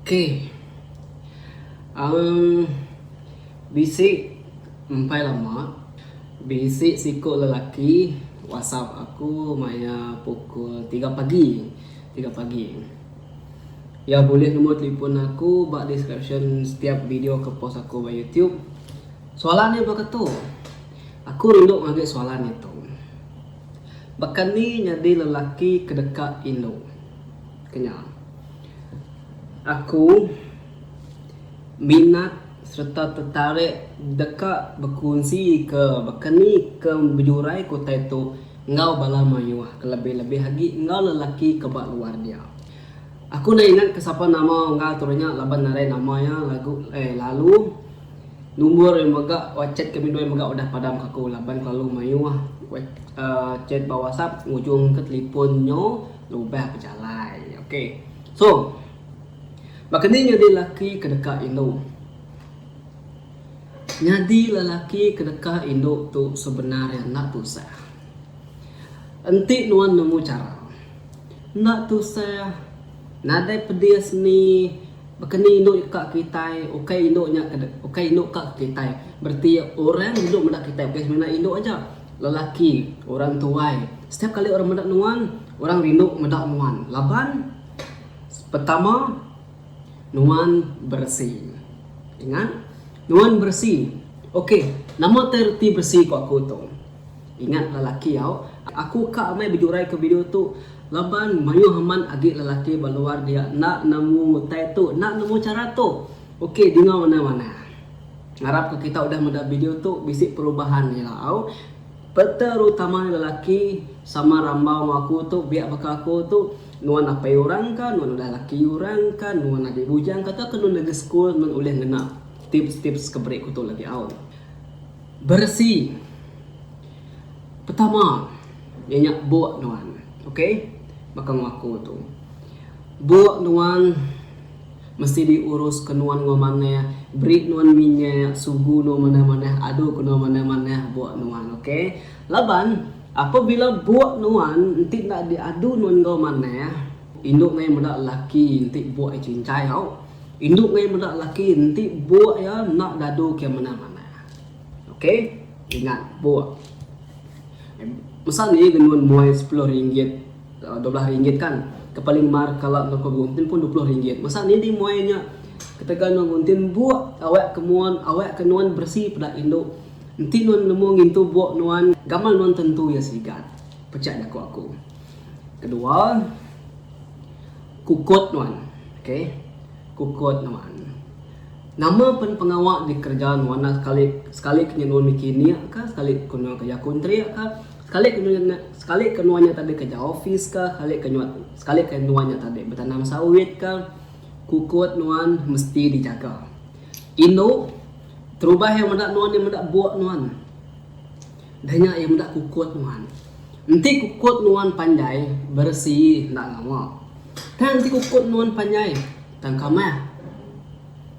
Okey. Aum bisi empai lama bisi siku lelaki whatsapp aku maya pukul tiga pagi, tiga pagi. Iya bulih numbor telefon aku ba description setiap video ke post aku ba youtube. Soalan iya baka tu. Aku rindu ngagai soalan nya tu. Baka ni nyadi lelaki ke deka indu ke nya? Aku minat sereta tetarik deka bekunsika baka ni ke bejuraiku utai tu enggau bala mayuh ke lebih-lebih agi enggau lelaki ke ba luar dia. Aku enda ingatka sapa nama Unggal Turu nya laban narai nama iya lagu eh lalu Numbur yang mega whatsapp kami doi mega udah padam kaku laban kelalu maioh chat ba whatsapp ngujung ke telipon nyo lubah bejalai ok so baka ni nyadi laki ke deka indu nyadi lelaki ke deka indu tu sebenar nya enda tusah. Enti nuan nemu chara enda tusah nadai pedis ni baka ni indu ka ke kitai ukai indu nya ukai indu ka ke kitai bereti orang indu meda kitai bukan semina indu aja lelaki orang tuai setiap kali orang meda nuan orang rindu meda nuan laban pertama nuan beresi ingat nuan beresi ok nama tu reti beresi ku aku tu. Ingat lelaki au. Aku ka amai bejurai ke video tu laban mayuh amat agi lelaki ba luar dia enda nemu utai tu enda nemu chara tu. Ok dinga manah manah. Ngarap ka kita udah meda video tu bisi perubahan ila au peterutama lelaki sama rambau enggau aku tu biak baka aku tu nuan apai urang ka nuan udah laki urang ka nuan agi bujang ka tau ka nuan agi school nuan ulih ngena tips tips ke beri ku tu lagi au. Beresi. Pertama nya nya buk nuan. Okay. Baka enggau aku tu. Buk nuan mesti di urus ke nuan enggau manah. Beri nuan minyak. Sugu nuan manah manah. Adu ke nuan manah manah buk nuan. Okay. Laban apabila buk nuan enti enda di adu nuan enggau manah. Indu ngai meda laki enti buk iya cincai tau. Indu ngai meda laki enti buk iya enda dadu ke manah manah. Okey, ingat buk. Masa ni genun muai sepuluh ringgit, eh, dua belah ringgit kan. Kepaling mar kala enggau ke guntin pun dua puluh ringgit. Masa ni di muai nya ketegal enggau guntin buk awak ke mun awak ke nuan beresi peda indu. Enti nuan nemu ngintu buk nuan, gamal nuan tentu iya sigat. Pecak jaku aku. Kedua. Kukut nuan. Ok. Kukut nuan. Nama pen pengawa dikereja nuan enda sekali sekali ke nyenun miki nik ka, sekali ke nuan kereja kontrik ka, sekali ke nuan nya sekali ke nuan nya tadi kereja opis ka, sekali ke nuan sekali ke nuan nya tadi betanam sawit ka, kukut nuan mesti dijaga. Indu, terubah yang meda nuan nya meda buk nuan. Dah nya iya meda kukut nuan. Enti kukut nuan panjai beresi enda ngawa. Tang enti kukut nuan panjai tang kamah.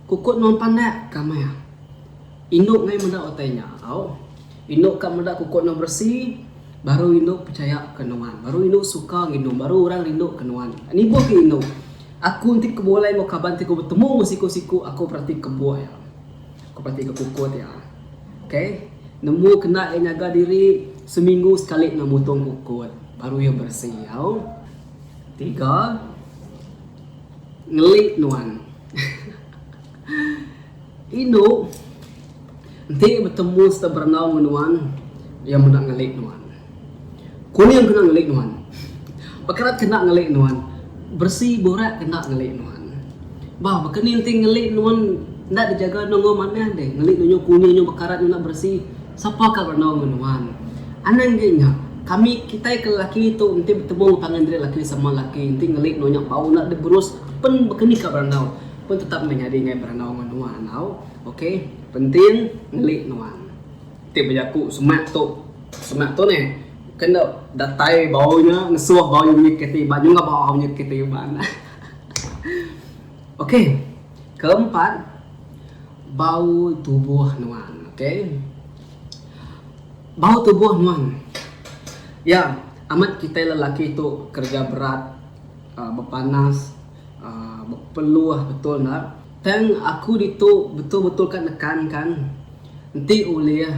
Kukut nuan pandak kamah. Indu ngai meda utai nya tau. Indu ka meda kukut nuan beresi baru indu pechaya ke nuan. Baru indu suka nginum baru orang rindu ke nuan. Nibuh ke indu. Aku enti ke bulai enggau kaban ti ku betemu enggau siku-siku aku berati kebuk iya. Ku pati ke pukut iya. Ok. Nembu kena iya nyaga diri seminggu sekali enggau mutung pukut baru iya beresi au. Tiga. Ngeli nuan. Indu enti betemu sereta berenau enggau nuan iya meda ngeli nuan. Kuning kena ngelik nuan. Pekerat kena ngelik nuan. Beresi burak kena ngelik nuan. Bah baka ni enti ngelik nuan enda dijaga nongoi manah deh. Ngelik nuan nyau kuning nyau bekarat nyau enda beresi. Sapa ka berdau ngen nuan. Anang ge nya. Kami kitai ke lelaki tu enti betemu enggau pangan diri lelaki sama lelaki enti ngelik nuan nya bau enda diberus pen baka ni ka berandau. Pen tetap meh nyadi ngai berandau ngen nuan tau. Okay. Penting ngelik nuan. Ti bejaku semak tu semak tu neh ke enda datai bau nya ngesuh bau nya bunyi keti ba nyungap bau au nya keti ba enda. Okey keempat bau tubuh nuan okey bau tubuh nuan ya amat kitai lelaki tu kerja berat bepanas bepeluh betul enda. Tang aku ditu betul-betul ka nekan kan enti ulih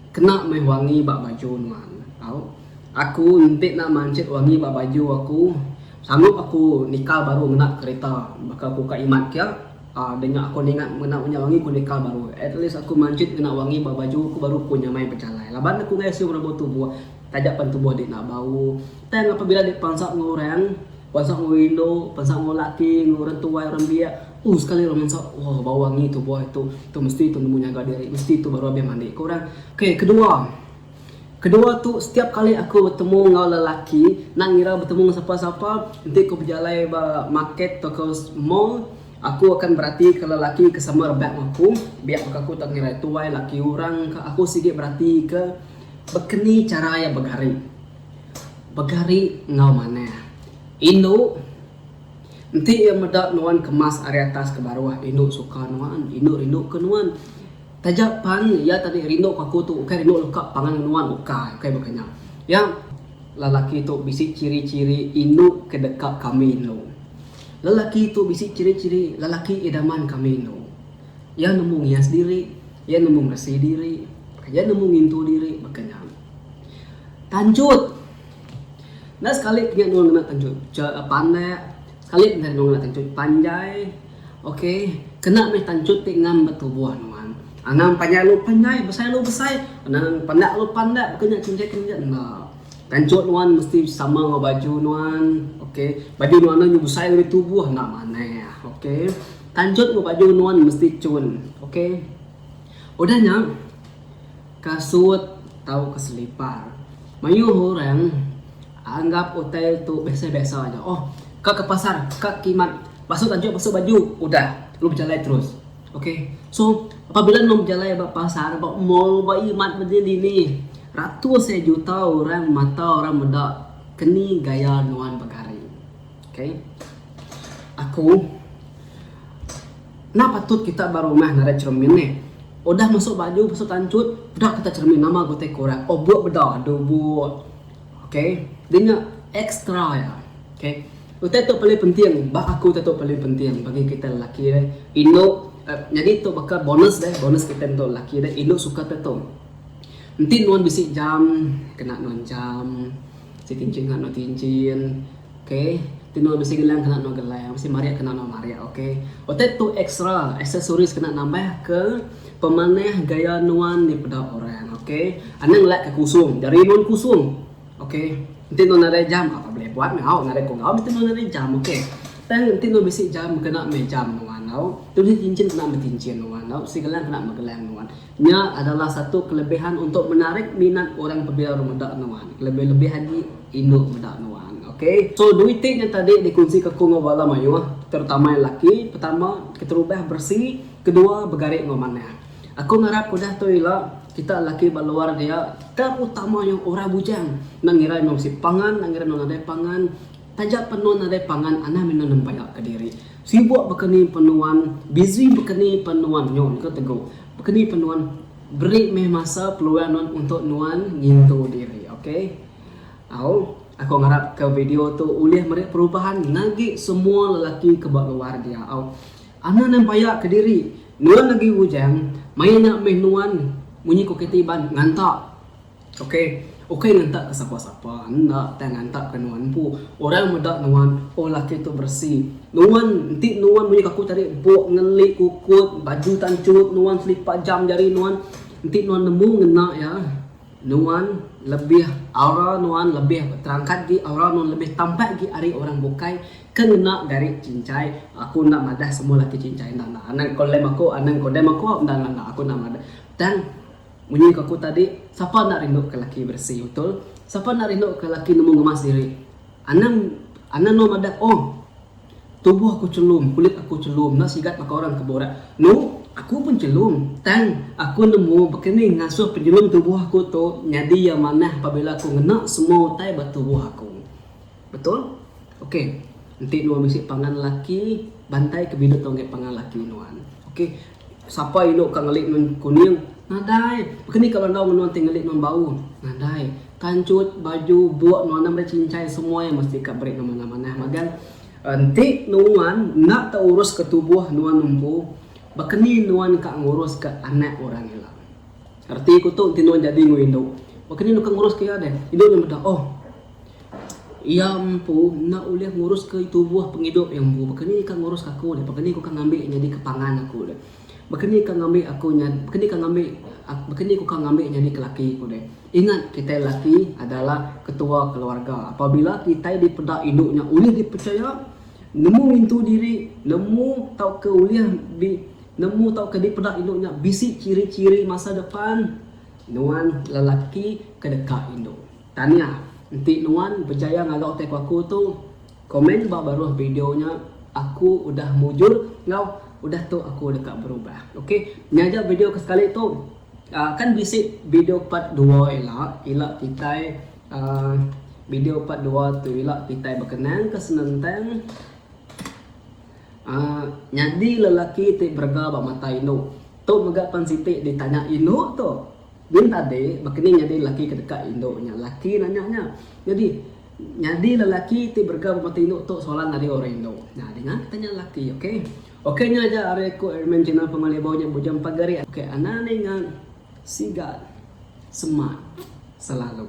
kena meh wangi ba baju nuan tau aku enti nak manchet wangi ba baju aku sanggup aku nikal baru ngena kereta baka aku ka imat kia uhh deh aku ningat ngena inya wangi aku nikal baru at least aku manchet ngena wangi ba baju aku baru aku nyamai bejalai laban aku ngasuh rambut tubuh Taja pan tubuh dek enda bau. Tang apabila dek pansap enggau orang, pansap enggau indu, pansap enggau laki, enggau orang tuai, orang biak, uh sekali orang mansap, wah bau angi tubuh ai tu, tu mesti tu nemu nyaga diri, mesti tu baru abih mandi, ku orang. Ok, kedua. Kedua tu setiap kali aku betemu enggau lelaki, enda ngira betemu enggau sapa-sapa, enti ku bejalai ba market tauka mall, aku akan beratika lelaki ke sama rebak enggau aku, biak baka aku tak ngira iya tuai, laki orang ka, aku sigi beratika. Baka ni chara iya begari? Begari enggau manah. Indu enti iya meda nuan kemas ari atas ke baruh, indu suka nuan, indu rindu ke nuan. Taja pan iya tadi rindu ke aku tu ukai rindu leka pangan ngan nuan ukai, ukai baka nya. Iya, lelaki tu bisi chiri-chiri indu ke deka kami indu. Lelaki tu bisi chiri-chiri lelaki idaman kami indu. Iya nemu ngias diri, iya nemu ngeresi diri, iya nemu ngintu diri baka nya. Tanjut. Enda sekali kinya nulung anak tanjut ja pandak, sekali pun nulung anak tanjut panjai. Okay, kena mih tanjut ti ngam ba tubuh nuan. Anang panjai lalu panjai, besai lalu besai, anang pandak lalu pandak baka nya chinjai ke nginjat enda. Tanjut nuan mesti sama enggau baju nuan, okay. Baju nuan enda nyau besai ngagai tubuh enda manah, okay. Tanjut enggau baju nuan mesti cun ok. Udah nya kasut tauka selipar. Mayuh orang anggap hotel tu biasa-biasa aja. Oh ka ke pasar ka kimat pasu tanjut pasu baju udah lalu bejalai terus ok. So apabila nuan bejalai ba pasar ba mall ba imat ba dini-dini ratus juta orang mata orang meda keni gaya nuan begari. Okay. Aku. Nah patut kita ba rumah narai cermin neh. Udah masuk baju, masuk tancut, peda kita cermin nama ga utai kurang. Oh buk beda adu buk. Okay. Dia nya extra ya. Okay. Utai tu paling penting. Ba aku utai tu paling penting bagi kita lelaki deh. Indu eh, jadi tu baka bonus deh. Bonus kita untuk lelaki deh. Indu suka kita tu. Enti nuan bisi jam, kena nuan jam. Si tinchin kena nuan tinchin. Ok Tino bisi gelang kena no gelang bisi marik kena no marik ok Otai tu extra accessories kena nambah ke pemanah gaya nuan di peda orang ok Anang ngelak ke kusung jari nuan kusung ok Enti nuan nadai jam apa boleh buat ngau nadai ko ngau mesti nuan nadai jam ok Tang enti nuan bisi jam kena meh jam nuan tau Tu bisi cincin kena meh cincin nuan tau bisi gelang kena meh gelang nuan Nya adalah satu kelebihan untuk menarik minat orang pebila meda nuan, kelebih-lebih agi indu meda nuan. Okay. So duit ti nya tadi dikunsi ke aku enggau bala mayuh, terutama iya laki, pertama, keterubah beresi, kedua begari enggau manah. Aku ngarap udah tu ila, kita laki ba luar dia, terutama iya orang bujang, enda ngira iya mesti pangan, enda ngira nuan nadai pangan, Taja penu nadai pangan anah minu nempaya ke diri. Sibuk baka ni pen nuan, busy baka ni pen nuan nyo engka tegu. Baka ni pen nuan beri meh masa peluang nuan untuk nuan ngintu diri ok. Au aku ngarap ke video tu ulih meri perubahan ngagi semua lelaki ke ba luar dia au. Anah nempaya ke diri, nuan agi bujang main nya meh nuan munyi ko kitai iban ngantak. Okey. Ukai ngantak ke sapa-sapa. Enda tang ngantak ke nuan empu. Orang meda nuan, oh laki tu beresi. Nuan, enti nuan munyi ke aku tadi, buk ngeli kukut, baju tan churut nuan, selipa jam jari nuan, enti nuan nemu ngena iya, nuan lebih aura nuan lebih terangkat agi, aura nuan lebih tampak agi ari orang bukai ke ngena gari cincai. Aku enda madah semua laki cincai. Enda enda. Anang ko lem aku, anang ko dem aku, enda enda enda. Aku enda madah. Tang. Munyi ke aku tadi, sapa enda rindu ke laki beresi betul? Sapa enda rindu ke laki nemu ngemas diri? Anang anang no madah oh tubuh aku chelum, kulit aku chelum, enda sigat baka orang ke borak. No, aku pun chelum, tang aku nemu baka ni ngasuh penyelum tubuh aku tu nyadi iya manah apabila aku ngena semua utai ba tubuh aku. Betul? Okey. Enti nuan bisi pangan laki, bantai ke biduh tau ngaih pangan laki nuan. Okey. Sapa indu ka ngeli nuan kuning? Nadai. Baka ni ka orang dau ngan nuan ti ngeli nuan bau? Nadai. Kanchut, baju, buk nuan meri chincai semua iya mesti ka beri nuan manah-manah magang. Enti nuan enda tau urus ka tubuh nuan empu, baka ni nuan ka ngurus ka anak orang ila? Reti ku tu enti nuan jadi enggau indu. Baka ni nuan ka nguruska iya deh? Indu nya meda, Oh, iya empu enda ulih nguruska tubuh pengidup iya empu. Baka ni ka nguruska aku deh? Baka ni ku ka ngambi iya nyadika pangan aku deh? Baka ni ka ngambi aku nyadi, baka ni ka ngambi, baka ni ku ka ngambi iya nyadika laki ku deh? Ingat, kitai laki adalah ketua keluarga. Apabila kitai dipeda indu nya ulih dipechaya, nemu ngintu diri, nemu tauka ulih di, Nemu tauka dipeda indu nya bisi chiri-chiri masa depan? Nuan lelaki ke deka indu. Tanya, Enti nuan bejaya ngaga utai ku aku tu, komen ba baruh video nya Aku udah mujur enggau Udah tu aku deka berubah. Ok, nya aja video ke sekali tu. Aaa kan bisi video part dua ila, ila kitai aaa video part dua tu ila kitai bekenang ke senentang. Aaa nyadi lelaki ti berega ba mata indu. Tu mega pan siti ditanya indu tu. Bin tadi baka ni nyadi lelaki ke deka indu nya laki nanya nya. Nyadi nyadi lelaki ti berega ba mata indu tu soalan ari orang indu. Nah dinga ke tanya laki ok. Ok nya aja ari aku Airman Channel Penguah Lebuh nya bujung pagari ok anang ninga siga semak selalu.